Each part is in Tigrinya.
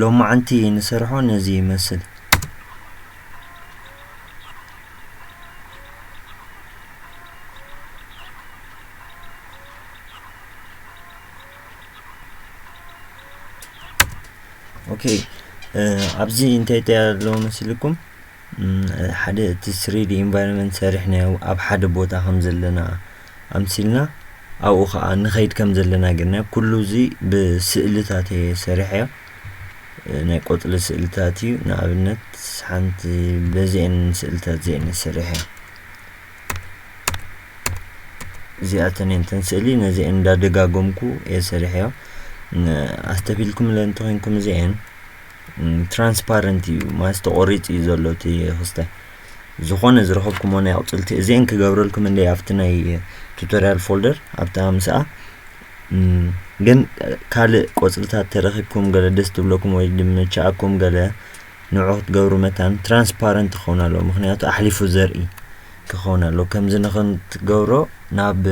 ሎማዓንቲ ንሰርሖ ነዚ ይመስል። ኦኬ ኣብዚ እንታይ እንታይ ኣለዎ መስልኩም ሓደ እቲ ስሪዲ ኢንቫይሮንመንት ሰሪሕናዮ ኣብ ሓደ ቦታ ከም ዘለና ኣምሲልና ኣብኡ ከኣ ንኸይድ ከም ዘለና ጌርና ኩሉ እዚ ብስእልታት እየ ሰሪሐዮ ናይ ቆጽሊ ስእልታት እዩ ንኣብነት ሓንቲ በዚኤን ስእልታት እዚኤን እየ ሰሪሐዮ እዚኣተን እየን ተን ስእሊ ነዚኤን እንዳደጋገምኩ እየ ሰሪሐዮ ኣስተብሂልኩምለን እንተኮይንኩም እዚኤን ትራንስፓረንት እዩ ማለት ተቆሪፅ እዩ ዘሎ እቲ ክስተ ዝኾነ ዝረኸብኩሞ ናይ ኣቁፅልቲ እዚአን ክገብረልኩም እንደ ኣብቲ ናይ ቱቶሪያል ፎልደር ኣብቲ ኣምስኣ ግን ካልእ ቆፅልታት ተረኪብኩም ገለ ደስ ትብለኩም ወይ ድምችኣኩም ገለ ንዑ ክትገብሩ መታን ትራንስፓረንት ክኸውን ኣለዎ ምክንያቱ ኣሕሊፉ ዘርኢ ክኸውን ኣለዎ ከምዚ ንክትገብሮ ናብ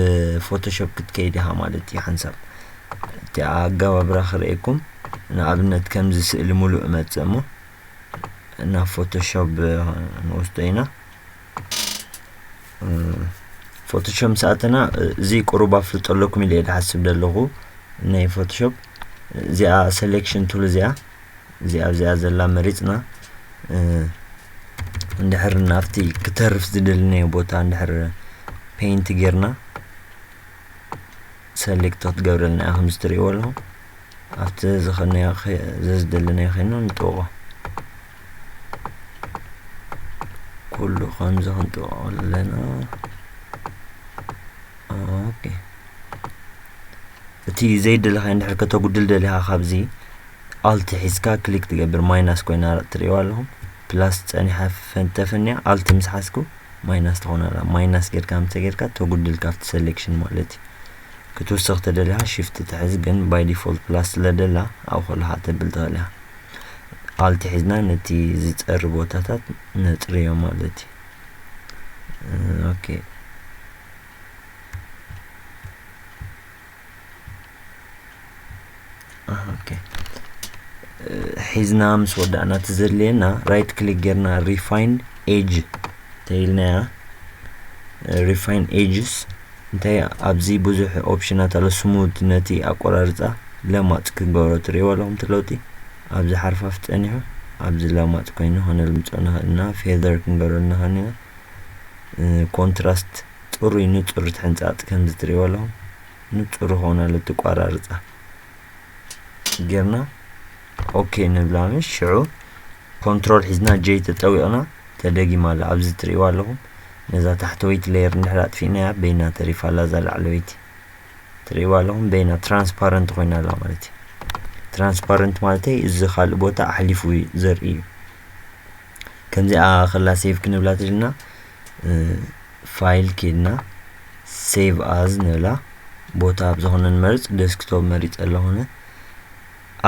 ፎቶሾፕ ክትከይድ ኢኻ ማለት እዩ ሓንሳብ እቲ ኣጋባብራ ክርእየኩም ንኣብነት ከምዚ ስእሊ ሙሉእ እመጽእ እሞ ናብ ፎቶሾፕ ንወስዶ ኢና ፎቶሾፕ ምስ ኣተና እዚ ቁሩብ ኣፍልጦ ኣለኩም ኢለ ዝሓስብ ዘለኹ ናይ ፎቶሾፕ እዚኣ ሴሌክሽን ቱል እዚኣ እዚኣ ኣብዚኣ ዘላ መሪፅና እንድሕር ናብቲ ክተርፍ ዝደልናዮ ቦታ እንድሕር ፔይንት ጌርና ሰሌክት ክትገብረልና እያ ከምዚ ትርእይዎ ኣለኹም ኣብቲ ዝኸድናዮ ዘዝደለናዮ ከይኑ ንጥብቆ ኩሉ ከምዚ ክንጥብቆ ኣለና ኦኬ እቲ ዘይደለኻዮ እንድሕር ከተጉድል ደሊኻ ካብዚ ኣልት ሒዝካ ክሊክ ትገብር ማይናስ ኮይና ትርእይዋ ኣለኹም ፕላስ ጸኒሓ ፈንተፍንያ ኣልት ምስ ሓዝኩ ማይናስ ትኾን ኣላ ማይናስ ጌርካ ምስ ተጌርካ ተጉድል ካብቲ ሰሌክሽን ማለት እዩ ክትውስኽ ተደሊኻ ሽፍት ትሕዝ ግን ባይ ዲፎልት ፕላስ ስለ ደላ ኣብ ከለኻ ተብል ትኽእል ኢኻ ኣልት ሒዝና ነቲ ዝጸሪ ቦታታት ነጽርዮ ማለት እዩ ኦኬ ሒዝና ምስ ወዳእና እቲ ዘድልየና ራይት ክሊክ ጌርና ሪፋይን ኤጅ ተይልናያ ሪፋይን ኤጅስ እንታይ ኣብዚ ብዙሕ ኦፕሽናት ኣሎ ስሙድ ነቲ ኣቆራርፃ ለማፅ ክገብሮ ትሪእዎ ኣለኹም እቲ ለውጢ ኣብዚ ሓርፋፍ ፀኒሑ ኣብዚ ለማፅ ኮይኑ ከነልምፆ ንኽእል ኢና ፌዘር ክንገብረሉ ንኽእል ኢና ኮንትራስት ጽሩይ ንጹር ትሕንጻጽ ከምዚ ትሪእዎ ኣለኹም ንጹር ኾነ ኣሎ ትቋራርጻ ጌርና ኦኬ ንብላ ምሽ ሽዑ ኮንትሮል ሒዝና ጀይ ተጠዊቕና ተደጊማ ኣላ ኣብዚ ትርእይዋ ኣለኹም ነዛ ታሕተወይቲ ሌየር እንድሕር ኣጥፊእናያ በይና ተሪፋ ኣላ እዛ ላዕለወይቲ ትርእይዋ ኣለኹም በይና ትራንስፓረንት ኮይና ኣላ ማለት እዩ ትራንስፓረንት ማለተይ እዚ ካልእ ቦታ ኣሕሊፉ ዘርኢ እዩ ከምዚኣ ከላ ሴቭ ክንብላ ትድልና ፋይል ኬድና ሴቭ ኣዝ ንብላ ቦታ ኣብ ዝኾነ ንመርፅ ደስክቶፕ መሪፀ ኣለኹነ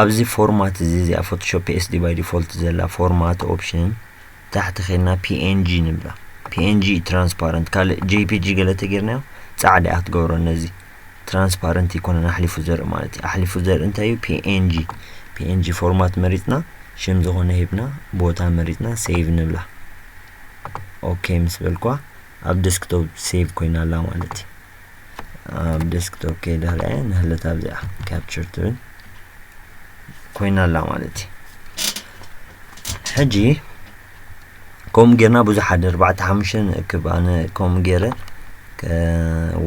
ኣብዚ ፎርማት እዚ እዚኣ ፎቶሾፕ ኤስዲ ባይ ዲፎልት ዘላ ፎርማት ኦፕሽን ታሕቲ ኬድና ፒኤንጂ ንብላ ፒኤንጂ ትራንስፓረንት ካልእ ጄፒጂ ገለ ተጌርናዮ ፃዕዳ ክትገብሮ ነዚ ትራንስፓረንት ኣይኮነን ኣሕሊፉ ዘርኢ ማለት እዩ ኣሕሊፉ ዘርኢ እንታይ እዩ ፒኤንጂ ፒኤንጂ ፎርማት መሪፅና ሽም ዝኾነ ሂብና ቦታ መሪፅና ሴቭ ንብላ ኦኬ ምስ በልኳ ኣብ ደስክቶፕ ሴቭ ኮይና ኣላ ማለት እዩ ኣብ ደስክቶፕ ከይደ ርኣየ ንህለት ኣብዚኣ ካፕቸር ትብል ኮይና ኣላ ማለት እዩ ሕጂ ከምኡ ጌርና ብዙሕ ኣደ ኣርባዕተ ሓሙሽተ ንእክብ ኣነ ከምኡ ጌረ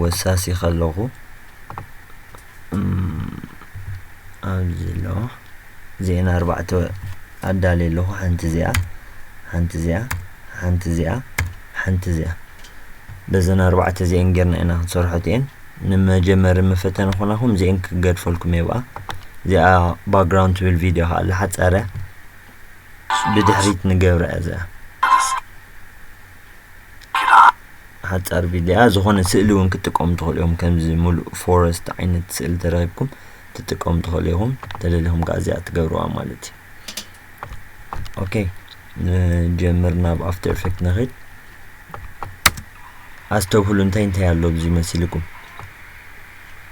ወሳሲ ከለኹ ኣብዚ ኣለዋ እዚኤን ኣርባዕተ ኣዳልየ ኣለኹ ሓንቲ እዚኣ ሓንቲ እዚኣ ሓንቲ እዚኣ ሓንቲ እዚኣ በዘን ኣርባዕተ እዚኤን ጌርና ኢና ክንሰርሖት እየን ንመጀመሪ መፈተኒ ኮናኹም እዚኤን ክገድፈልኩም የብኣ እዚኣ ባክግራውንድ ትብል ቪድዮ ከዓ ኣለሓፀረ ብድሕሪት ንገብራ እዚኣ ሓፃር ቪድያ ዝኾነ ስእሊ እውን ክትጥቀሙ ትኽእሉ እዮም ከምዚ ሙሉእ ፎረስት ዓይነት ስእሊ ተረኪብኩም ትጥቀሙ ትኽእሉ ኢኹም ተደሊኹም ከዓ እዚኣ ትገብርዋ ማለት እዩ ኦኬ ንጀምር ናብ ኣፍተር ኤፌክት ንኽድ ኣስተብህሉ እንታይ እንታይ ኣሎ ብዚ መሲልኩም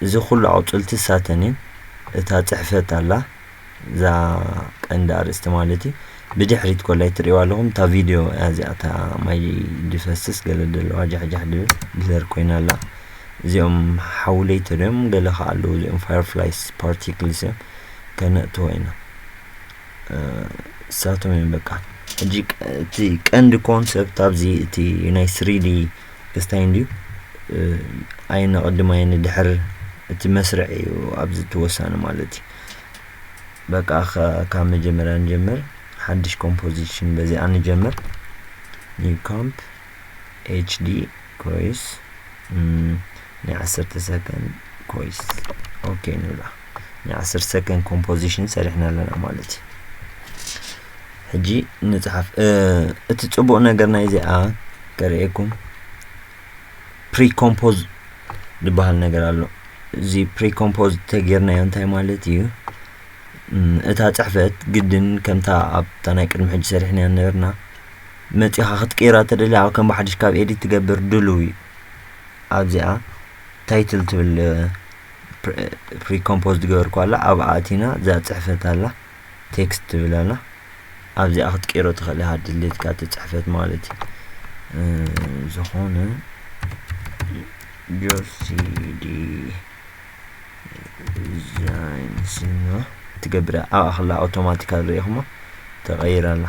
እዚ ኩሉ ኣቁፅልቲ ሳተን እየን እታ ፅሕፈት ኣላ እዛ ቀንዲ ኣርእስቲ ማለት እዩ ብድሕሪት ኮላይ ትሪእዋ ኣለኹም እታ ቪድዮ እዚኣ እታ ማይ ድፈስስ ገለ ደለዋ ጃሕጃሕ ድብል ብለር ኮይና ኣላ እዚኦም ሓውለይ ተሪኦም ገለ ከዓ ኣለዉ እዚኦም ፋየርፍላይስ ፓርቲክልስ እዮም ከነእትዎ ኢና እሳቶም እዮም በቃ ሕጂ እቲ ቀንዲ ኮንሰፕት ኣብዚ እቲ ናይ ስሪዲ ክስታይ እንድዩ ኣይነቕድም ኣይንድሕር እቲ መስርዕ እዩ ኣብዚ ተወሳኒ ማለት እዩ በቃ ካብ መጀመርያ ንጀምር ሓድሽ ኮምፖዚሽን በዚኣ ንጀምር ኒው ካምፕ ኤችዲ ኮይስ ናይ ዓሰርተ ሰከንድ ኮይስ ኦኬ ንብላ ናይ ዓስር ሰከንድ ኮምፖዚሽን ሰሪሕና ኣለና ማለት እዩ ሕጂ ንፅሓፍ እቲ ፅቡቅ ነገር ናይ እዚኣ ከርእየኩም ፕሪኮምፖዝ ዝበሃል ነገር ኣሎ እዚ ፕሪኮምፖዝ ተጌርናዮ እንታይ ማለት እዩ እታ ፅሕፈት ግድን ከምታ ኣብታ ናይ ቅድሚ ሕጂ ሰሪሕናያ ነበርና መፂኻ ክትቅይራ ተደሊ ኣብ ከም ብሓድሽ ካብ ኤዲት ትገብር ድልው እዩ ኣብዚኣ ታይትል ትብል ፕሪኮምፖዝ ዝገበርኩ ኣላ ኣብኣ ኣቲና እዛ ፅሕፈት ኣላ ቴክስት ትብል ኣላ ኣብዚኣ ክትቀይሮ ትኽእል ኢኻ ድሌትካ እቲ ፅሕፈት ማለት እዩ ዝኾነ ጆሲዲ ዲዛይን ስማ ትገብር ኣብኣ ክላ ኣውቶማቲካ ርኢኹሞ ተቐይር ኣላ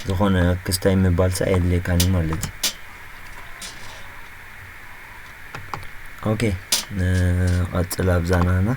ዝኾነ ክስታይ ምባልሳ የድልየካን እዩ ማለት እዩ ኦኬ ንቐፅል ኣብዛና ና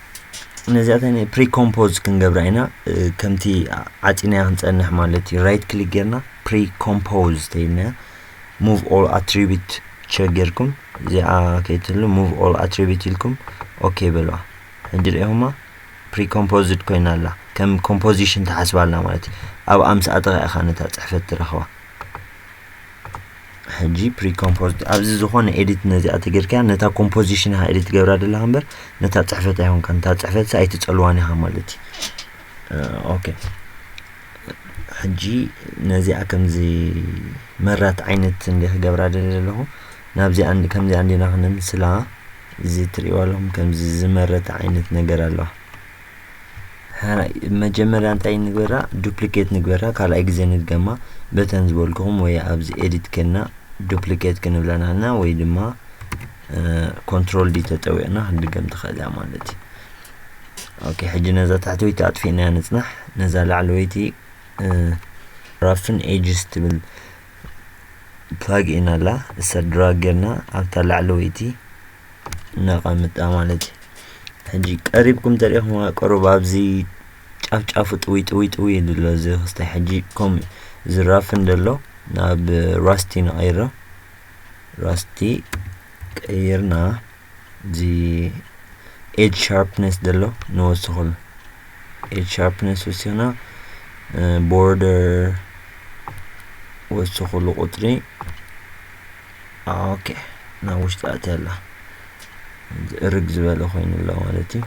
ነዚኣተን ፕሪኮምፖዝ ክንገብራ ኢና ከምቲ ዓፂናያ ክንፀንሕ ማለት እዩ ራይት ክሊክ ጌርና ፕሪኮምፖዝ ተይልናያ ሙቭ ኦል ኣትሪቢት ቸክ ጌርኩም እዚኣ ከይትህሉ ሙቭ ኦል ኣትሪቢት ኢልኩም ኦኬ በልዋ ሕጂ ሪኢኹማ ፕሪኮምፖዝድ ኮይና ኣላ ከም ኮምፖዚሽን ተሓስባ ኣላ ማለት እዩ ኣብ ኣምስኣተኻ ኢኻ ነታ ፅሕፈት ትረኽባ ሕጂ ፕሪ ኮምፖዝ ኣብዚ ዝኾነ ኤዲት ነዚኣ ተገርካ ነታ ኮምፖዚሽን ኢኻ ኤዲት ትገብራ ዘለኻ እምበር ነታ ፅሕፈት ኣይኮንካ ነታ ፅሕፈት ኣይትፀልዋን ኢኻ ማለት እዩ ኦኬ ሕጂ ነዚኣ ከምዚ መራት ዓይነት እንደ ክገብራ ደሊ ዘለኹ ናብዚ ኣንድ ከምዚ ኣንዲና ክነምስላ እዚ ትሪእዋ ኣለኹም ከምዚ ዝመረተ ዓይነት ነገር ኣለዋ መጀመርያ እንታይ ንግበራ ዱፕሊኬት ንግበራ ካልኣይ ግዜ ንድገማ በተን ዝበልኩኹም ወይ ኣብዚ ኤዲት ከና ዱፕሊኬት ክንብላ ንሕና ወይ ድማ ኮንትሮል ዲ ተጠዊቕና ክንድገም ትኽእል እያ ማለት እዩ ኦኬ ሕጂ ነዛ ታሕተወይቲ ኣጥፊእና ንፅናሕ ነዛ ላዕለወይቲ ራፍን ኤጅስ ትብል ፕላግ ኢና ኣላ እሳ ድራግ ጌርና ኣብታ ላዕለወይቲ ነቐምጣ ማለት እዩ ሕጂ ቀሪብኩም ተሪእኹም ቀሩብ ኣብዚ ጫፍ ጫፉ ጥዊ ጥዊ ጥዊ ኢሉ ኣሎ እዚ ክስተ ሕጂ ከም ዝራፍ እንደሎ ናብ ራስቲ ንቐይሮ ራስቲ ቀይርና እዚ ኤጅ ሻርፕነስ ዘሎ ንወስኸሉ ኤጅ ሻርፕነስ ወሲኽና ቦርደር ወስኸሉ ቁፅሪ ኦኬ ናብ ውሽጢ ኣትያ ኣላ እርግ ዝበለ ኮይኑ ኣሎ ማለት እዩ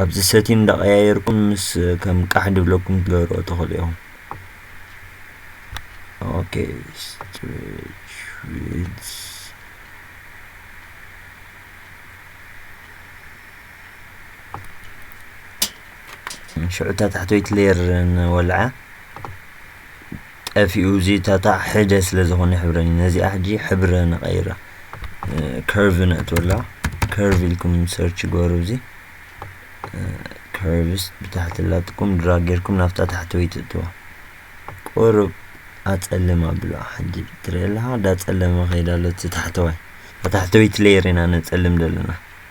ኣብዚ ሰቲን እንዳቀያየርኩም ምስ ከም ቃሕ ድብለኩም ትገብርኦ ተኽእሉ ኢኹም ኦኬ ስትሬች ዊድስ ሽዑታ ታሕተወይቲ ሌየር ንወልዓ ጠፊኡ እዚ ታታዕ ሕደ ስለ ዝኾነ ሕብረኒ ነዚኣ ሕጂ ሕብረ ንቐይራ ከርቭ ነእትወላ ከርቭ ኢልኩም ሰርች ግበሩ እዚ ከርቭስ ብታሕቲ ላትኩም ድራ ጌርኩም ናብታ ታሕተወይቲ እትዋ ቁሩብ ኣጸልም ኣብላ ሕጂ ትርእየለኻ ዳጸለመ ከይዳ ኣሎ እቲ ታሕተዋይ ታሕተወይቲ ሌየር ኢና ነጸልም ዘለና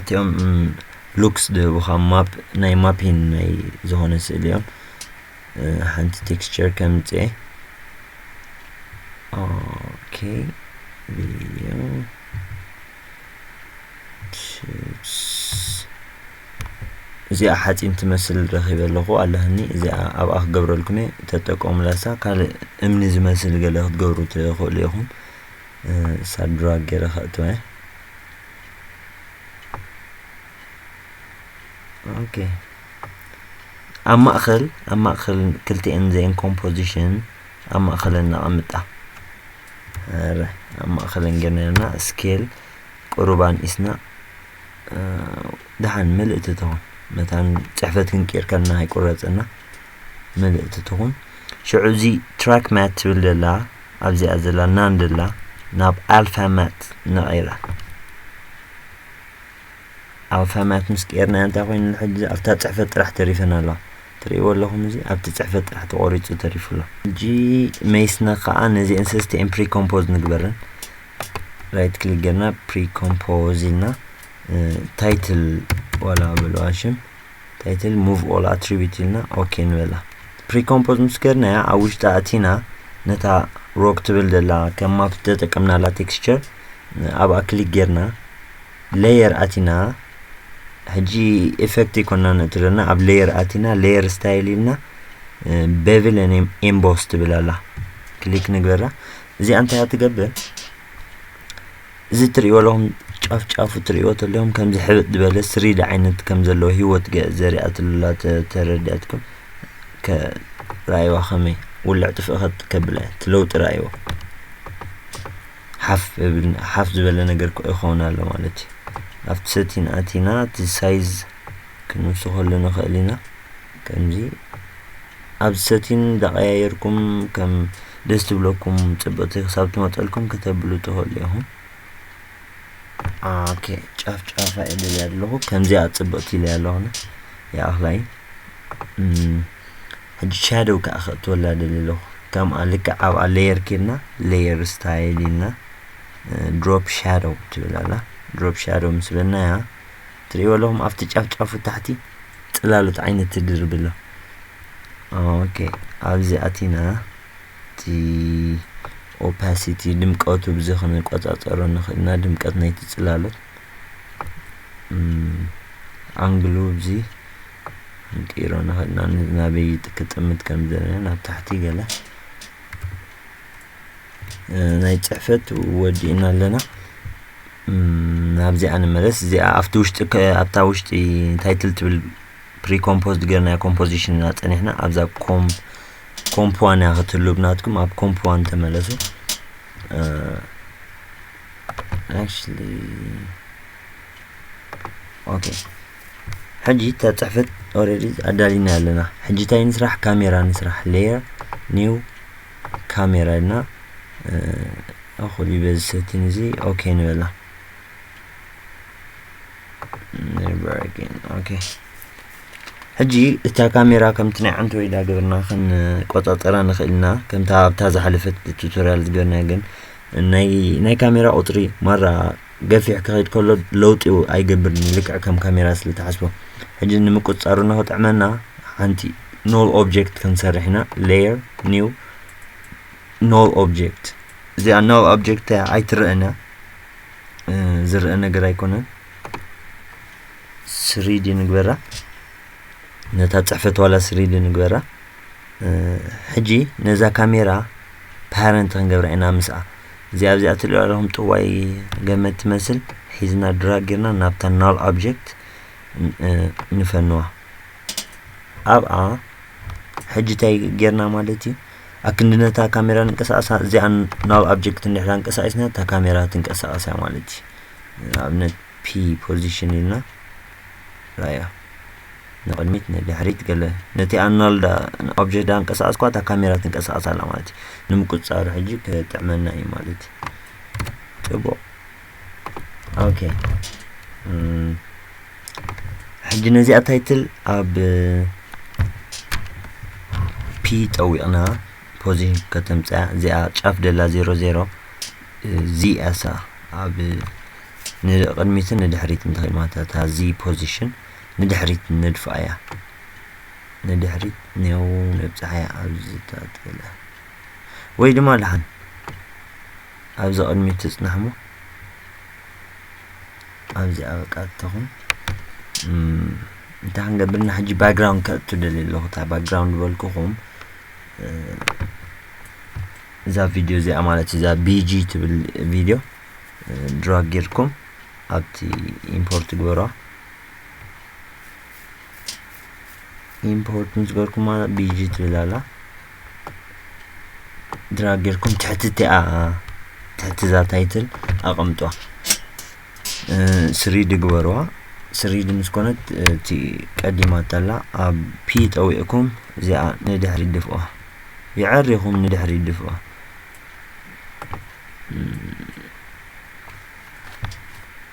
እቲኦም ሉክስ ዝህቡኻ ማፕ ናይ ማፒን ናይ ዝኾነ ስእሊ እዮም ሓንቲ ቴክስቸር ከምፅኤ ኦኬ ቪዲዮ እዚኣ ሓፂን ትመስል ረኺበ ኣለኹ ኣለኒ እዚኣ ኣብኣ ክገብረልኩም እየ ተጠቀሙላሳ ካልእ እምኒ ዝመስል ገለ ክትገብሩ ትኽእሉ ኢኹም ሳብ ድራግ ገይረ ከእትወ ኦኬ ኣብ ማእኸል ኣብ ማእኸል ክልቲኤን ዘን ኮምፖዚሽን ኣብ ማእኸለን ነቐምጣ ረ ኣብ ማእኸለን ገነርና ስኬል ቁሩባን ኢስና ድሓን ምልእቲ ትኹን መታን ፅሕፈት ክንቅይር ከለና ኣይቁረፅና ምልእቲ ትኹን ሽዑ እዚ ትራክ ማት ትብል ዘላ ኣብዚኣ ዘላ ናንድላ ናብ ኣልፋማት ነቒላ ኣልፋማት ምስ ቀርና እንታይ ኮይኑ ንሕጂ ኣብታ ፅሕፈት ጥራሕ ተሪፈን ኣለዋ ትርእይዎ ኣለኹም እዚ ኣብቲ ፅሕፈት ጥራሕ ተቖሪፁ ተሪፉ ኣሎ ሕጂ መይስና ከዓ ነዚአን ሰስቲኤን ፕሪኮምፖዝ ንግበረን ራይት ክሊክ ገርና ፕሪኮምፖዝ ኢልና ታይትል ዋላ በለዋ ሽም ታይትል ሙቭ ኦል ኣትሪቢት ኢልና ኦኬ ንበላ ፕሪኮምፖዝ ምስ ገርናያ ኣብ ውሽጢ ኣቲና ነታ ሮክ ትብል ዘላ ከም ማፕ ተጠቀምናላ ቴክስቸር ኣብኣ ክሊክ ጌርና ሌየር ኣቲና ሕጂ ኤፌክት ይኮና ነትረና ኣብ ሌየር ኣቲና ሌየር ስታይል ኢልና ቤቭል ኤምቦስ ትብል ኣላ ክሊክ ንግበራ እዚኣ እንታይ ትገብር እዚ እትርእይዎ ኣለኹም ጫፍ ጫፉ እትርእይዎ ተለኹም ከምዚ ሕብጥ ዝበለ ስሪድ ዓይነት ከም ዘለዎ ህይወት ዘሪኣትሉላ ተረዲኣትኩም ራእይዋ ከመይ ውልዕ ጥፍእ ከጥ ከብላ እያ እቲ ለውጢ ራእይዋ ሓፍ እብል ሓፍ ዝበለ ነገር ይኸውን ኣሎ ማለት እዩ ኣብቲ ሰቲን ኣቲና እቲ ሳይዝ ክንውስኸሉ ንኽእል ኢና ከምዚ ኣብ ሰቲን ዳቀያየርኩም ከም ደስ ትብለኩም ጽብቅቲ ክሳብ ትመጸልኩም ከተብሉ ትኽእሉ ኢኹም ኦኬ ጫፍ ጫፋ ኢለል ኣለኹ ከምዚኣ ጽብቕቲ ኢለ ኣለኹነ ይኣኽላይ ሕጂ ሻደው ከዓ ከእትወላ ደሊ ኣለኹ ከምኣ ልክዕ ኣብኣ ሌየር ኬድና ሌየር ስታይል ኢልና ድሮፕ ሻደው ትብል ኣላ ድሮፕ ሻደው ምስ በልናያ ትርእይዎ ኣለኹም ኣብቲ ጫፍ ጫፉ ታሕቲ ጽላሎት ዓይነት ትድርቢ ኣሎ ኦኬ ኣብዚ ኣቲና እቲ ኦፓሲቲ ድምቀቱ ብዚ ክንቆጻጸሮ ንኽእል ኢና ድምቀት ናይቲ ጽላሎት ኣንግሉ ብዚ ክንቅይሮ ንኽእል ኢና ናበይ ክጥምት ከም ዘለና ናብ ታሕቲ ገለ ናይ ፅሕፈት ወዲእና ኣለና ናብዚኣ ንመለስ እዚኣ ኣብቲ ውሽጢ ኣብታ ውሽጢ ታይትል ትብል ፕሪኮምፖዝድ ገርናዮ ኮምፖዚሽን ኢና ፀኒሕና ኣብዛ ኮም ኮምፕ ዋን እያ ክትህሉ ብናትኩም ኣብ ኮምፕ ዋን ተመለሱ actually ኦኬ ሕጂ እታ ፅሕፈት ኦልሬዲ ኣዳሊና ኣለና ሕጂ እንታይ ንስራሕ ካሜራ ንስራሕ ሌየር ኒው ካሜራ ኢልና እኹል እዩ በዚ ሰቲን እዚ ኦኬ ንበላ ኦኬ ሕጂ እታ ካሜራ ከምቲ ናይ ዓንተ ወይዳ ገበርና ክንቆፃፀራ ንኽእል ኢና ከምታ ኣብታ ዝሓለፈት ቱቶሪያል ዝገበርና ግን ናይ ካሜራ ቁፅሪ ማራ ገፊሕ ክኸይድ ከሎ ለውጢ ኣይገብርን እዩ ልክዕ ከም ካሜራ ስለ ትሓስቦ ሕጂ ንምቁፅፃሩ ንክጥዕመና ሓንቲ ኖል ኦብጀክት ክንሰርሕ ኢና ሌየር ኒው ኖል ኦብጀክት እዚኣ ኖል ኦብጀክት ኣይትረአን እያ ዝረአ ነገር ኣይኮነን ስሪዲ ንግበራ ነታ ፅሕፈት ዋላ ስሪዲ ንግበራ ሕጂ ነዛ ካሜራ ፓረንት ክንገብራ ኢና ምስኣ እዚኣ ኣብዚኣ ትሪኦ ኣለኹም ጥዋይ ገመድ ትመስል ሒዝና ድራግ ጌርና ናብታ ናል ኦብጀክት ንፈንዋ ኣብኣ ሕጂ እንታይ ጌርና ማለት እዩ ኣክንዲ ነታ ካሜራ ንንቀሳቐሳ እዚኣ ናል ኦብጀክት እንድሕር ኣንቀሳቂስና እታ ካሜራ ትንቀሳቐስ እያ ማለት እዩ ንኣብነት ፒ ፖዚሽን ኢልና ራያ ንቕድሚት ንድሕሪት ገለ ነቲ ኣናልዳ ኦብጀክት ዳንቀሳቐስኳ እታ ካሜራ ትንቀሳቐስ ኣላ ማለት እዩ ንምቁፅፃሩ ሕጂ ክጥዕመና እዩ ማለት እዩ ፅቡቕ ኦኬ ሕጂ ነዚኣ ታይትል ኣብ ፒ ጠዊቕና ፖዚሽን ከተምፅያ እዚኣ ጫፍ ደላ ዜሮ ዜሮ ዚኣሳ ኣብ ንቅድሚትን ንድሕሪትን ትኽእል ማለት እታ ዚ ፖዚሽን ንድሕሪት ንድፍኣያ ንድሕሪት ኔው ነብጽሓያ ኣብ ዝታተለ ወይ ድማ ልሓን ኣብዚ ቅድሚት ትጽናሕሞ ኣብዚኣ በቃ ትኹን እንታይ ክንገብር ና ሕጂ ባክግራውንድ ከእቱ ደሊ ኣለኹ እታ ባክግራውንድ በልኩኹም እዛ ቪድዮ እዚኣ ማለት እዛ ቢጂ ትብል ቪድዮ ድራግ ጌርኩም ኣብቲ ኢምፖርት ግበሯ ኢምፖርት ምስ ገርኩማ ቢጂ ትብል ኣላ ድራግ ጌርኩም ትሕቲ እቲኣ ትሕቲ እዛ ታይትል ኣቐምጧ ስሪድ ግበርዋ ስሪድ ምስ ኮነት እቲ ቀዲማ ተላ ኣብ ፒ ጠዊዕኩም እዚኣ ንድሕሪ ድፍዋ ይዐሪኹም ንድሕሪ ድፍዋ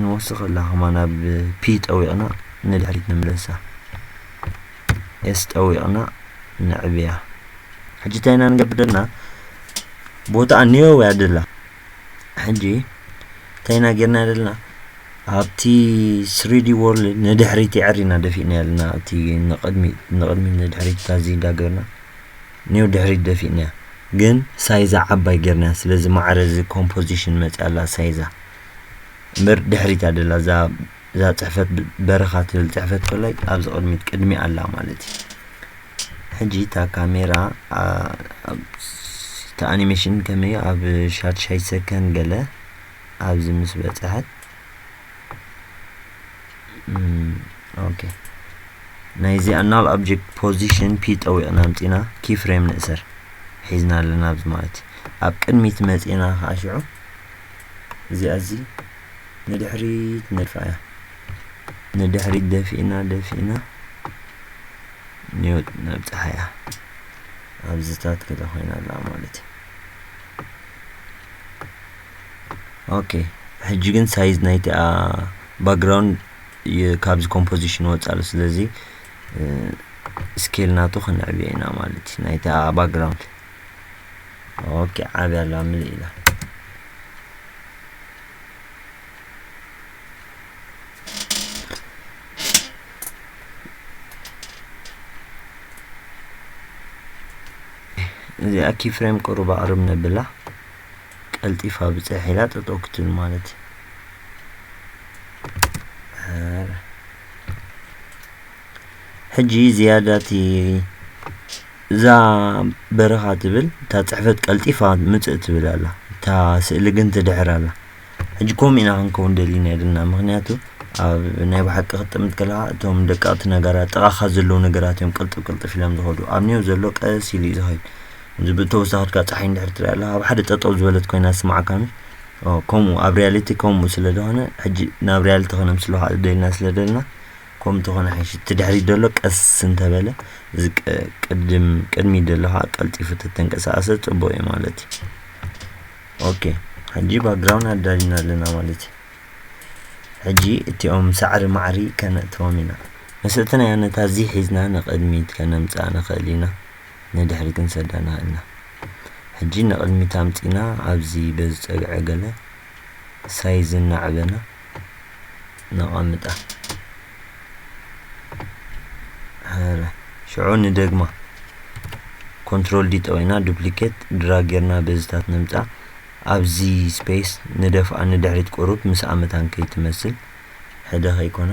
ንወስኽ ኣላ ከማን ኣብ ፒ ጠዊቕና ንድሕሪት ንምለሳ ኤስ ጠዊቕና ነዕብያ ሕጂ እንታይ ኢና ንገብር ዘለና ቦታ ኒዮ እያ ደላ ሕጂ እንታይ ኢና ጌርና ዘለና ኣብቲ ስሪዲ ወርልድ ንድሕሪት የዕሪና ደፊእና ኣለና እቲ ንቕድሚት ንቕድሚት ንድሕሪት ታዚ እንዳገርና ኔው ድሕሪት ደፊእንያ ግን ሳይዛ ዓባይ ጌርናያ ስለዚ ማዕረ እዚ ኮምፖዚሽን መጽያ ኣላ ሳይዛ እምበር ድሕሪት እያ ደላ እዛ እዛ ጽሕፈት በረኻ ትብል ጽሕፈት ኮላይ ኣብዚ ቅድሚት ቅድሚ ኣላ ማለት እዩ ሕጂ እታ ካሜራ እቲ ኣኒሜሽን ከመይ ኣብ ሻድሻይ ሰከንድ ገለ ኣብዚ ምስ በጽሐት ኦኬ ናይዚ ኣናል ኦብጀክት ፖዚሽን ፒ ጠዊቕና ኣምፂና ኪ ፍሬም ንእሰር ሒዝና ኣለና ኣብዚ ማለት እዩ ኣብ ቅድሚት መፂና ከዓ ሽዑ እዚኣ እዚ ንድሕሪት ንድፋ እያ ንድሕሪት ደፊእና ደፊእና ኒውት ነብፅሓ እያ ኣብዚታት ክለ ኮይና ኣለዋ ማለት እዩ ኦኬ ሕጂ ግን ሳይዝ ናይቲ ባክግራውንድ ካብዚ ኮምፖዚሽን ወፃእ ኣሎ ስለዚ ስኬል ናቱ ክንዕብዮ ኢና ማለት እዩ ናይቲ ባክግራውንድ ኦኬ ዓብያ ኣላ ምልእ ኢላ እዚኣ ኪፍሬም ቅሩብ ኣቕርብ ነብላ ቀልጢፋ ብጽሕ ኢላ ጠጠው ክትብል ማለት እዩ ሕጂ ዝያዳ እቲ እዛ በረኻ ትብል እታ ጽሕፈት ቀልጢፋ ምጽእ ትብል ኣላ እታ ስእሊ ግን ትድሕር ኣላ ሕጂ ከምኡ ኢና ክንከውን ደሊና የድና ምክንያቱ ኣብ ናይ ብሓቂ ክትጥምት ከለካ እቶም ደቀቕቲ ነገራት ጥቓኻ ዘለዉ ነገራት እዮም ቅልጥፍ ቅልጥፍ ኢሎም ዝኸዱ ኣብኒዮ ዘሎ ቀስ ኢሉ እዩ ዝኸይድ እዚ ብተወሳኺ ድካ ጸሓይ እንድሕር ትሪኣ ኣላ ኣብ ሓደ ጠጠው ዝበለት ኮይና ዝስምዓካ ምስ ከምኡ ኣብ ሪያሊቲ ከምኡ ስለ ዝኾነ ሕጂ ናብ ሪያሊቲ ክነምስ ኣለካ ደልና ስለ ደልና ከምኡ ተኾነ ሓይሽ እቲ ድሕሪት ደሎ ቀስ እንተበለ እዚ ቅድም ቅድሚ ደሎ ከዓ ቀልጢፉ ተተንቀሳቀሰ ጽቡቅ እዩ ማለት እዩ ኦኬ ሕጂ ባክግራውን ኣዳሊና ኣለና ማለት እዩ ሕጂ እቲኦም ሳዕሪ ማዕሪ ከነእትዎም ኢና መሰልተናዮ ነታ እዚ ሒዝና ንቅድሚት ከነምጽኣ ንኽእል ኢና ንድሕሪት ክንሰደና እና ሕጂ ንቅድሚት ኣምጺና ኣብዚ በዚ ጸግዒ ገለ ሳይዝ እናዕበና ነቀምጣ ሀረ ሽዑ ንደግማ ኮንትሮል ዲ ጠዊና ዱፕሊኬት ድራግ ጌርና በዝታት ነምጻ ኣብዚ ስፔስ ንደፍኣ ንድሕሪት ቁሩብ ምስ ኣመታን ከይትመስል ሕደ ከይኮና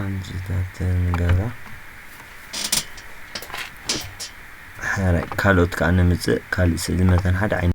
ኣምስታት ንገብራ ሓራይ ካልኦት ከዓ ንምፅእ ካልእ ስእሊ መተን ሓደ ዓይነት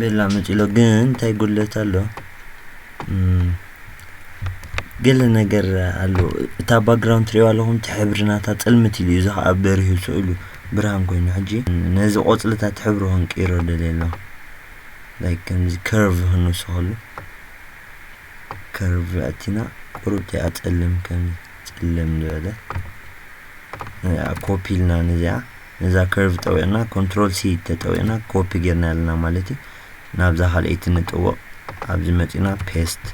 ሌላ መጺሎ ግን እንታይ ጉድለት ኣሎ ገለ ነገር ኣሎ እታ ባክግራውንድ ትሪእዋ ኣለኹም እቲ ሕብሪ ናታ ፅልምት ኢሉ እዩ እዚ ከዓ በሪሁ ስእሉ ብርሃን ኮይኑ ሕጂ ነዚ ቆፅልታት ሕብሪ ክንቅይሮ ደልየ ኣለኹ ላይክ ከምዚ ከርቭ ክንውስኸሉ ከርቭ ኣቲና ቁርብቲ እያ ፀልም ከም ፀልም ዝበለ ኮፒ ኢልና ነዚኣ ነዛ ከርቭ ጠዊቕና ኮንትሮል ሲ ተጠዊቕና ኮፒ ጌርናያ ኣለና ማለት እዩ ናብዛ ካልኣይቲ ንጥውቕ ኣብዚ መጺና ፔስት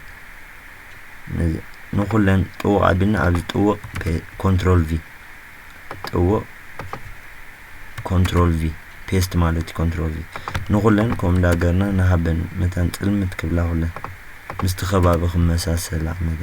ንኹለን ጥውቕ ኣቢልና ኣብዚ ጥውቕ ኮንትሮል ቪ ጥውቕ ኮንትሮል ቪ ፔስት ማለት እዩ ኮንትሮል ቪ ንኹለን ከምኡ እንዳገርና ንሃበን መታን ጽልምት ክብላ ኩለን ምስቲ ከባቢ ክመሳሰላ ነጋ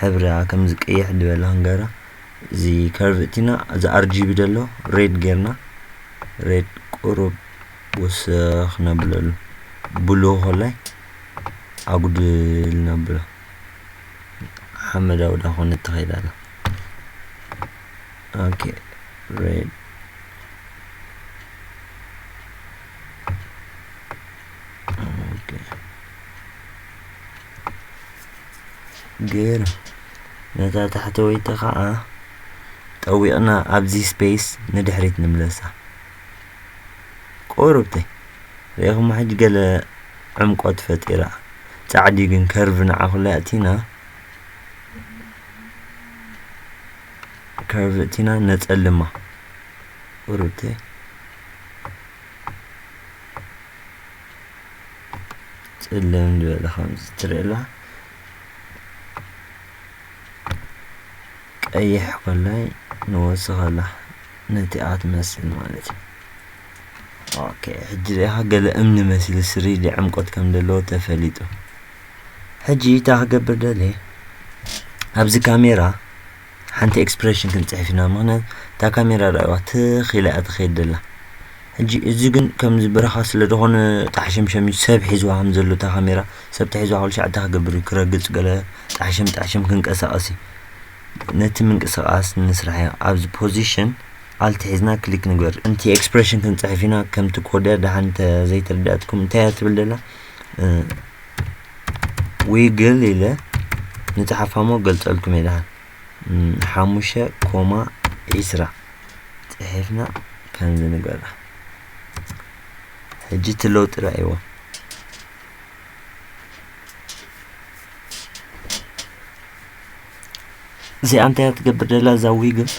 ሕብራ ከምዚ ቀይሕ ድበላ ክንገራ እዚ ከርቭ እቲና እዚ ኣርጂቢ ደሎ ሬድ ጌርና ሬድ ቁሩብ ወሰኽ ነብለሉ ብሉ ኮላይ ኣጉድል ነብሎ ሓመዳዊ ዳ ኮነ ትኸይድ ኣላ ኦኬ ሬድ ግን ነታ ታሕተወይቲ ኸኣ ጠዊቕና ኣብዚ ስፔስ ንድሕሪት ንምለሳ። ቁርብተይ ርኢኹማ ሕጂ ገለ ዕምቆት ፈጢራ ጻዕዲ ግን ከርቭ ንዓኹላ ኣእቲና ከርቭ እቲና ነጸልማ ቁርብተይ ጽልም ዝበለ ከምዚ ትርእላ ቀይሕ ኮላይ ንወስኸላ ነቲ ኣትመስል ማለት እዩ ኦኬ ሕጂ ዚኣ ገለ እምኒ መስሊ ስሪ ዕምቆት ከም ዘለዎ ተፈሊጡ ሕጂ እታ ክገብር ደልየ ኣብዚ ካሜራ ሓንቲ ኤክስፕረሽን ክንጽሕፍ ኢና ምክንያት እታ ካሜራ ርኣይዋ ትኽ ኢላ እያ ትኸይድ ደላ ሕጂ እዚ ግን ከምዚ በረኻ ስለ ዝኾነ ጣሕሸምሸም እዩ ሰብ ሒዝዋ ከም ዘሎ እታ ካሜራ ሰብ ተሒዝዋ ክሉ ሻዕ እንታይ ክገብር እዩ ክረግጽ ገለ ጣሕሸም ጣሕሸም ክንቀሳቐስ እዩ ነቲ ምንቅስቓስ ንስራሕ እያ ኣብዚ ፖዚሽን ኣልት ሒዝና ክሊክ ንግበር እንቲ ኤክስፕሬሽን ክንፅሕፍ ኢና ከምቲ ኮድያ ደሓን ዘይተረዳእትኩም እንታይ እያ ትብል ደላ ዊግል ኢለ ንጽሓፋሞ ገልጸልኩም እየ ድሓን ሓሙሽተ ኮማ ዒስራ ጽሒፍና ከምዚ ንገብራ ሕጂ እቲ ለውጢ ረኣይዎ እዚኣ እንታይ እያ ትገብር ደላ እዛ ዊግል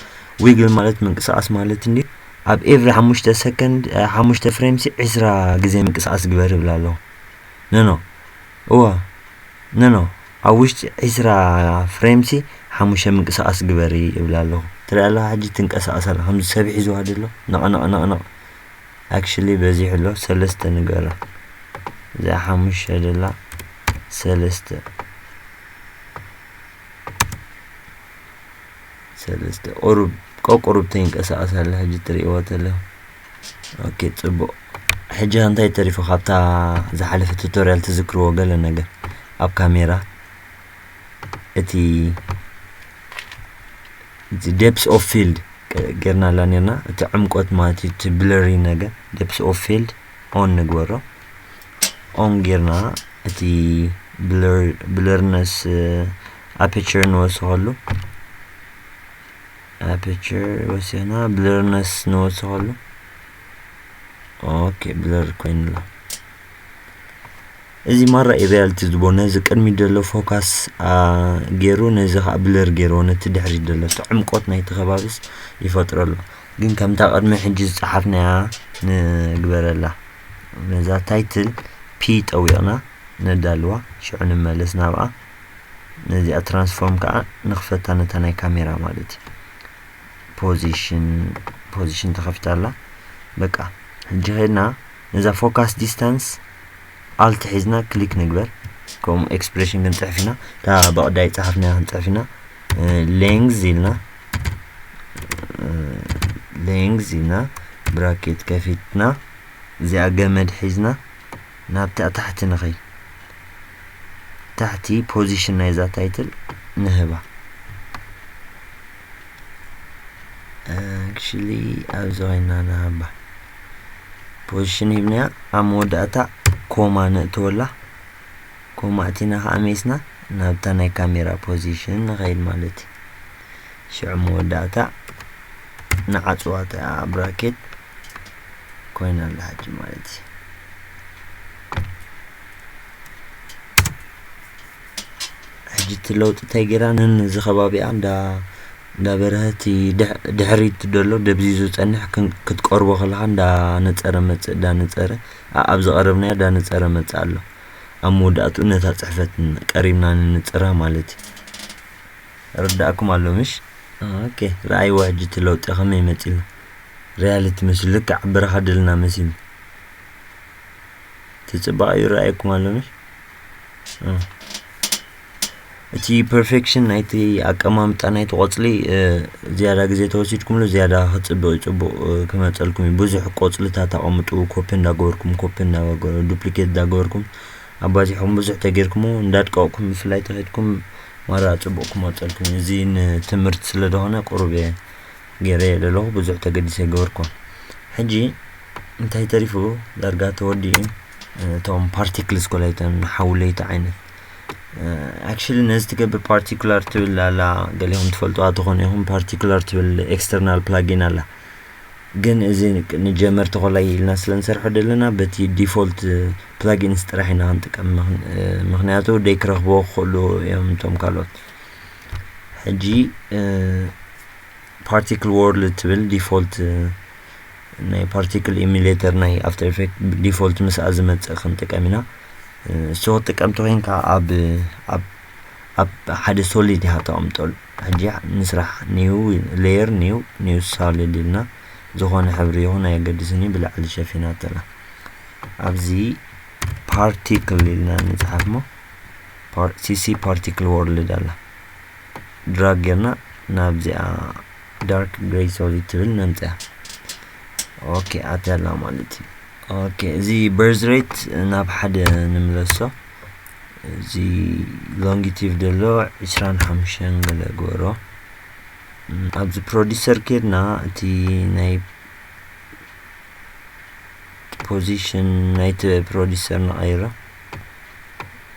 ዊግል ማለት ምንቅስቃስ ማለት እንዲ ኣብ ኤቭሪ ሓሙሽተ ሰከንድ ሓሙሽተ ፍሬምሲ ዕስራ ግዜ ምንቅስቃስ ግበር ይብላ ኣለኹ ኖኖ እወ ኖኖ ኣብ ውሽጢ ዕስራ ፍሬምሲ ሓሙሽተ ምንቅስቃስ ግበሪ እብላ ኣለኹ ትሪኣ ኣለኻ ሕጂ ትንቀሳቀስ ኣላ ከምዚ ሰብ ሒዝዋ ደሎ ነቕነቕነቕነቕ ኣክሽሊ በዚሑ ኣሎ ሰለስተ ንገሮ እዚኣ ሓሙሽተ ደላ ሰለስተ ሰለስተ ቁሩብ ቀቁሩብ ተይንቀሳቀስ ኣላ ሕጂ ትሪእዎ ተለኹ ኦኬ ጽቡቅ ሕጂ ከ እንታይ ተሪፉ ካብታ ዝሓለፈ ቱቶርያል ትዝክርዎ ገለ ነገር ኣብ ካሜራ እቲ እቲ ዴፕስ ኦፍ ፊልድ ጌርናላ ኔርና እቲ ዕምቆት ማለት እዩ እቲ ብለሪ ነገር ዴፕስ ኦፍ ፊልድ ኦን ንግበሮ ኦን ጌርና እቲ ብለርነስ ኣፔቸር ንወስኸሉ ኣፐቸር ወሲና ብለርነስ ንወስኸሉ ኦኬ ብለር ኮይኑላ እዚ ማራ እዩ ሪያልቲ ዝቦ ነዚ ቅድሚ ደሎ ፎካስ ገይሩ ነዚ ከዓ ብለር ገይርዎ ነቲ ድሕሪ ደሎ እቲ ዕምቆት ናይቲ ከባቢስ ይፈጥረሉ ግን ከምታ ቅድሚ ሕጂ ዝፀሓፍናያ ንግበረላ ነዛ ታይትል ፒ ጠዊቕና ነዳልዋ ሽዑ ንመለስ ናብኣ ነዚኣ ትራንስፎርም ከዓ ንክፈታ ነታ ናይ ካሜራ ማለት እዩ ፖዚሽን ፖዚሽን ተኸፊታ ኣላ በቃ ሕጂ ከድና ነዛ ፎካስ ዲስታንስ ኣልት ሒዝና ክሊክ ንግበር ከምኡ ኤክስፕሬሽን ክንፅሕፍ ኢና እታ በቕዳይ ፀሓፍና ክንፅሕፍ ኢና ሌንግዝ ኢልና ሌንግዝ ኢልና ብራኬት ከፊትና እዚኣ ገመድ ሒዝና ናብቲ ኣብ ታሕቲ ንኸይድ ታሕቲ ፖዚሽን ናይዛ ታይትል ንህባ ኣክቹሊ ኣብዚ ኮይና ንሃባ ፖዚሽን ሂብናያ ኣብ መወዳእታ ኮማ ነእትወላ ኮማ እቲና ከዓ ሜስና ናብታ ናይ ካሜራ ፖዚሽን ንኸይድ ማለት እዩ ሽዑ መወዳእታ ንዓፅዋ እቲኣ ብራኬት ኮይና ኣላ ሕጂ ማለት እዩ ሕጂ እቲ ለውጢ እንታይ ጌራ ነዚ ከባቢኣ እንዳ እንዳ በረሀቲ ድሕሪት ደሎ ደብዚዙ ዝጸንሕ ክትቀርቦ ከለኻ እንዳ ነጸረ መጽእ እንዳ ነጸረ ኣብ ዝቐረብናዮ እንዳ ነጸረ መጽእ ኣሎ ኣብ መወዳእትኡ ነታ ጽሕፈት ቀሪብና ንንጽራ ማለት እዩ ርዳእኩም ኣሎ ምሽ ኦኬ ረኣይዎ ሕጂ እቲ ለውጢ ከመይ መጺእና ርያልቲ መሲ ልክዕ ብራኻ ድልና መሲ ትጽባቕ ይረኣየኩም ኣሎ መሽ እቲ ፐርፌክሽን ናይቲ ኣቀማምጣ ናይቲ ቆፅሊ ዝያዳ ግዜ ተወሲድኩምሉ ዝያዳ ክፅብቅ ፅቡቅ ክመፀልኩም እዩ ብዙሕ ቆፅልታት ኣቐምጡ ኮፒ እንዳገበርኩም ኮፒ ዱፕሊኬት እንዳገበርኩም ኣባዚሕኩም ብዙሕ ተገይርኩሞ እንዳድቀቕኩም ብፍላይ ተኸድኩም ማራ ፅቡቅ ክመፀልኩም እዩ እዚ ንትምህርቲ ስለ ዝኾነ ቁሩብ እየ ገሬ ለለኹ ብዙሕ ተገዲሰ ኣይገበርኩን ሕጂ እንታይ ተሪፉ ዳርጋ ተወዲኡ እቶም ፓርቲክልስ ኮላይተን ንሓው ለይቲ ዓይነት ኣክሽሊ ነዚ ትገብር ፓርቲኩላር ትብል ኣላ ገሊኹም ትፈልጡዋ ትኾኑ ኢኹም ፓርቲኩላር ትብል ኤክስተርናል ፕላጊን ኣላ ግን እዚ ንጀመርቲ ኮላይ ኢልና ስለ ንሰርሖ ደለና በቲ ዲፎልት ፕላጊንስ ጥራሕ ኢና ክንጥቀም ምክንያቱ ደይ ክረኽብዎ ክኽእሉ እዮም እቶም ካልኦት ሕጂ ፓርቲክል ወርልድ ትብል ዲፎልት ናይ ፓርቲክል ኢሚሌተር ናይ ኣፍተር ኢፌክት ዲፎልት ምስኣ ዝመፅእ ክንጥቀም ኢና እሱ ክትጥቀም ተኮይንካ ኣብ ኣብ ኣብ ሓደ ሶሊድ ኢኻ ተቐምጠሉ ሕጂ ንስራሕ ኒው ሌየር ኒው ኒው ሳልድ ኢልና ዝኾነ ሕብሪ ይኹን ኣየገድስን እዩ ብላዕሊ ሸፊናተላ ኣብዚ ፓርቲክል ኢልና ንፅሓፍ ሞ ሲሲ ፓርቲክል ወርልድ ኣላ ድራግ ጌርና ናብዚኣ ዳርክ ግሬይ ሶሊድ ትብል ነምፅያ ኦኬ ኣትያላ ማለት እዩ ኦኬ እዚ በርዝ ሬት ናብ ሓደ ንምለሶ እዚ ሎንጊቲቭ ደሎ ዕስራን ሓሙሽተን ገለ ግበሮ ኣብዚ ፕሮዲሰር ኬድና እቲ ናይ ፖዚሽን ናይቲ ፕሮዲሰር ንቐይሮ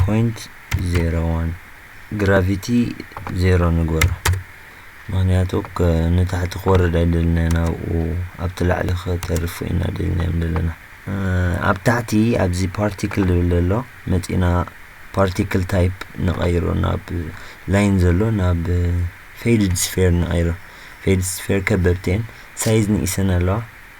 ፖይንት ዜሮ ዋን ግራቪቲ ዜሮ ንግበሮ ምክንያቱ ንታሕቲ ክወርድ ኣይደልና ኢና ኣብኡ ኣብቲ ላዕሊ ከተርፉ ኢና ደልናዮም ዘለና ኣብ ታሕቲ ኣብዚ ፓርቲክል ዝብል ዘሎ መፂና ፓርቲክል ታይፕ ንቐይሮ ናብ ላይን ዘሎ ናብ ፌድድ ስፌር ንቐይሮ ፌድ ስፌር ከበብተን ሳይዝ ንኢሰን ኣለዋ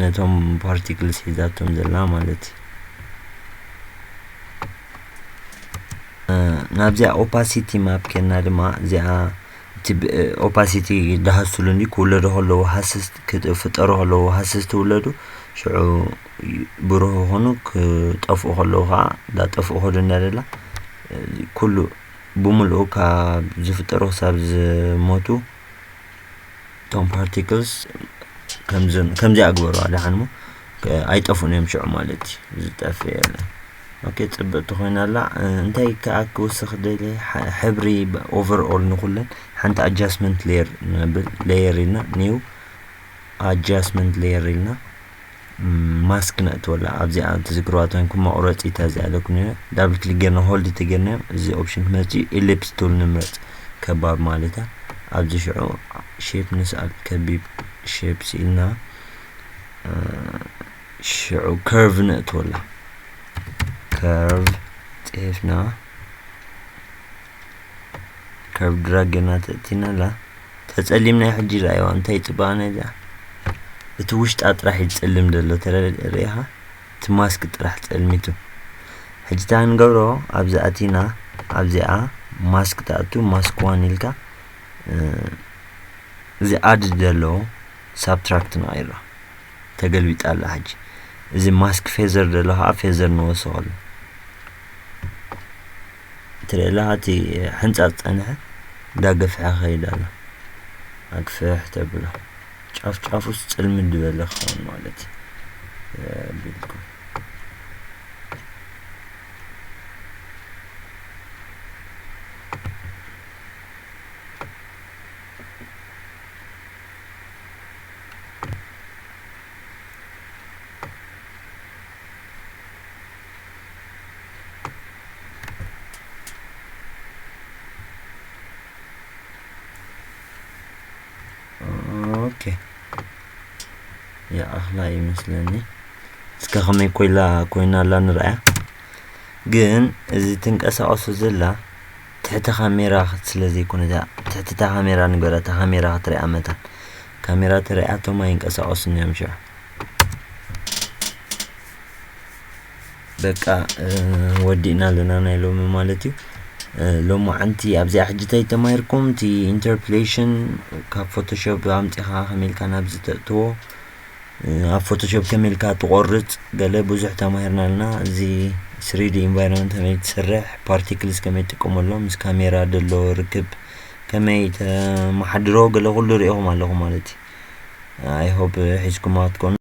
ነቶም ፓርቲክልስ ሒዛቶም ዘላ ማለት እዩ ናብዚኣ ኦፓሲቲ ማፕ ኬና ድማ እዚኣ እቲ ኦፓሲቲ ዝሃስሉ እንዲ ክውለዱ ከለዉ ሃስስ ክፍጠሩ ከለዉ ሃስስ ትውለዱ ሽዑ ብሩህ ይኾኑ ክጠፍኡ ከለዉ ከዓ እንዳጠፍኡ ከዱ እናደላ ኩሉ ብምልኡ ካብ ዝፍጠሩ ክሳብ ዝሞቱ እቶም ፓርቲክልስ ከምዞም ከምዚኣ ግበረዋ ደሓን እሞ ኣይጠፍኡን እዮም ሽዑ ማለት እዩ ዝጠፍእ የለን ኦኬ ፅብቕቲ ኮይና ኣላ እንታይ ከዓ ክውስኽ ደልየ ሕብሪ ኦቨርኦል ንኩለን ሓንቲ ኣጃስትመንት ሌየር ንብል ሌየር ኢልና ኒው ኣጃስትመንት ሌየር ኢልና ማስክ ነእትወላ ኣብዚኣ ትዝግርዋ ተንኩም መቑረፂ ተዚኣ ኣለኩም ዳብል ክሊክ ጌርና ሆልድ ተጌርና እዚ ኦፕሽን ክመፅእ እዩ ኤሊፕስ ቱል ንምረፅ ከባብ ማለት እያ ኣብዚ ሽዑ ሼፕ ንስኣል ከቢብ ሼፕ ስኢልና ሽዑ ከርቭ ነእትወላ ከርቭ ፅሒፍና ካብ ድራግ ገና ተእቲና ኣላ ተጸሊምና ሕጂ ርኣይዋ እንታይ ጽባቐ ናይዛ እቲ ውሽጣ ጥራሕ ይጸልም ዘሎ ተርእኻ እቲ ማስክ ጥራሕ ጸልሚቱ ሕጂ እታ ንገብሮ ኣብዚ ኣቲና ኣብዚኣ ማስክ ትኣቱ ማስክ ዋን ኢልካ እዚ ኣድ ዘለዎ ሳብትራክት ንቐይሮ ተገልቢጣ ኣላ ሕጂ እዚ ማስክ ፌዘር ዘሎ ከዓ ፌዘር ንወስኸሉ ትርእላ እቲ ሕንጻጽ ጸንሐ እንዳገፍሐ ከይድ ኣሎ ኣግፍሕ ተብሎ ጫፍ ጫፉስ ጽልም ድበለ ክኸውን ማለት ቢልኩም ኦኬ ይኣኽላ እዩ መስለኒ እስከ ከመይ ኮይላ ኮይና ኣላ ንርኣያ ግን እዚ ትንቀሳቐሱ ዘላ ትሕቲ ካሜራ ስለ ዘይኮነ እዛ ትሕቲ እታ ካሜራ ንገራ እታ ካሜራ ክትሪኣ መታን ካሜራ ተሪኣቶም ኣይንቀሳቐሱን እዮም ሽዑ በቃ ወዲእና ኣለና ናይ ሎሚ ማለት እዩ ሎማዓንቲ ኣብዚኣ ሕጂ እንታይ ተማሂርኩም እቲ ኢንተርፕሌሽን ካብ ፎቶሾፕ ኣምፂኻ ከመይ ኢልካ ናብ ዝተእትዎ ኣብ ፎቶሾፕ ከመይ ኢልካ ትቆርፅ ገለ ብዙሕ ተማሂርና ኣለና እዚ ስሪዲ ኢንቫይሮንመንት ከመይ ትስርሕ ፓርቲክልስ ከመይ ትጥቀመሎም ምስ ካሜራ ደሎ ርክብ ከመይ ተመሓድሮ ገለ ኩሉ ሪኢኹም ኣለኹም ማለት እዩ ኣይሆፕ ሒዝኩማ ክትኮኑ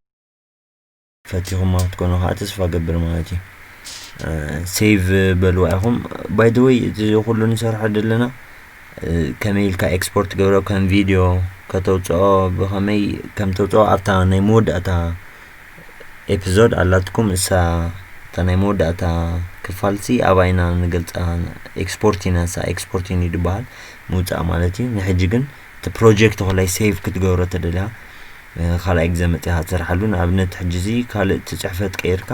ፈቲኹማ ክትኮኑ ከዓ ተስፋ ገብር ማለት እዩ ሴቭ በልዋ ኢኹም ባይ ዘ ወይ እዚ ኩሉ ንሰርሖ ዘለና ከመይ ኢልካ ኤክስፖርት ገብሮ ከም ቪድዮ ከተውፅኦ ብኸመይ ከም ተውፅኦ ኣብታ ናይ መወዳእታ ኤፒዞድ ኣላትኩም እሳ እታ ናይ መወዳእታ ክፋልሲ ኣብኣ ኢና ንገልፃ ኤክስፖርት ኢና እሳ ኤክስፖርት ዩኒድ ይበሃል ምውፃእ ማለት እዩ ንሕጂ ግን እቲ ፕሮጀክት ኮላይ ሴቭ ክትገብሮ ተደልያ ካልኣይ ግዜ መፅኻ ትሰርሓሉ ንኣብነት ሕጂ እዚ ካልእ እቲ ፅሕፈት ቀይርካ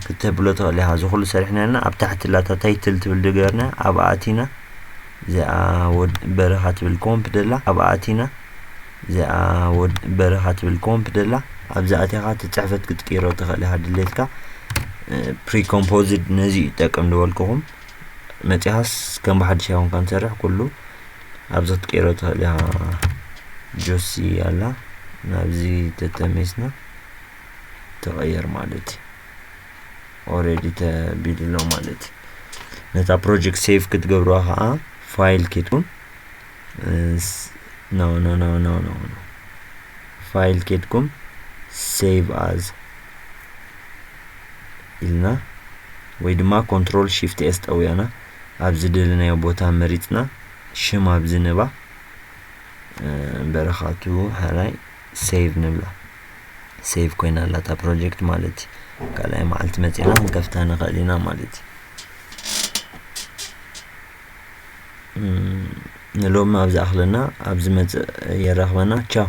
ክተብሎ ትኽእል ኢኻ እዚ ኩሉ ሰሪሕና ኣለና ኣብ ታሕቲ ላታ ታይትል ትብል ድገርና ኣብኣ ኣቲና እዚኣ ወድ በረኻ ትብል ኮምፕ ደላ ኣብኣ ኣቲና እዚኣ ወድ በረኻ ትብል ኮምፕ ደላ ኣብዚ ኣቲኻ እቲ ፅሕፈት ክትቅይሮ ትኽእል ኢኻ ድሌትካ ፕሪኮምፖዝድ ነዚ ይጠቅም ዝበልኩኹም መፂኻስ ከም ብሓድሽ ኣይኮንካ ንሰርሕ ኩሉ ኣብዛ ክትቀይሮ ትኽእል ኢኻ ጆሲ ኣላ ናብዚ ተተሜስና ተቐየር ማለት እዩ ኦሬዲ ተቢሉ ኣሎ ማለት እዩ ነታ ፕሮጀክት ሴቭ ክትገብርዋ ከዓ ፋይል ኬትኩም ኖ ኖ ኖ ኖ ኖ ፋይል ኬትኩም ሴቭ ኣዝ ኢልና ወይ ድማ ኮንትሮል ሺፍት ኤስ ጠውያና ኣብ ዝደለናዮ ቦታ መሪጽና ሽም ኣብዚ ንባ በረኻቱ ሐራይ ሴቭ ንብላ ሴቭ ኮይና ኣላ እታ ፕሮጀክት ማለት እዩ ካልኣይ መዓልቲ መፂና ክንከፍታ ንኽእል ኢና ማለት እዩ ንሎሚ ኣብ ዝኣኽለና ኣብ ዝመፅእ የራኽበና ቻው